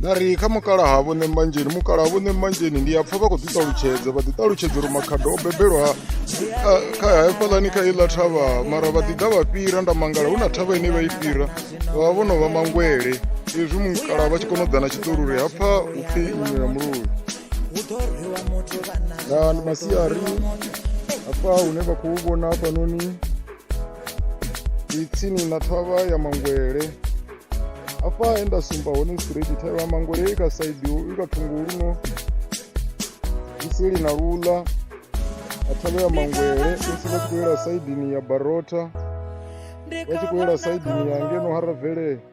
na ri kha mukalaha vho ṋembanzheni mukalaha vho ṋembanzheni ndi a pfha vha khou ḓi ṱalutshedza vha ḓi ṱalutshedza uri makhado o bebelwa kha hafhaḽani kha iḽa thavha mara vha ḓi ḓa vha fhira nda mangala hu na thavha ine vha i fhira vha vha vho no vha mangwele izwi mukalaha vha tshi kona u ḓa na tshiṱori uri hapfa u pfhi nnyula mululu na ndi masiari hafha hune vha khou vhona hafhanoni ndi tsini na thavha ya mangwele hafha he nda sumba hone straight thavha ya mangwele i kha saidi i kha thungo luno isili na lula a thavha ya mangwele musi vha tshi khou yela saidini ya barota vha tshi khou yela saidini ya ngeno haravele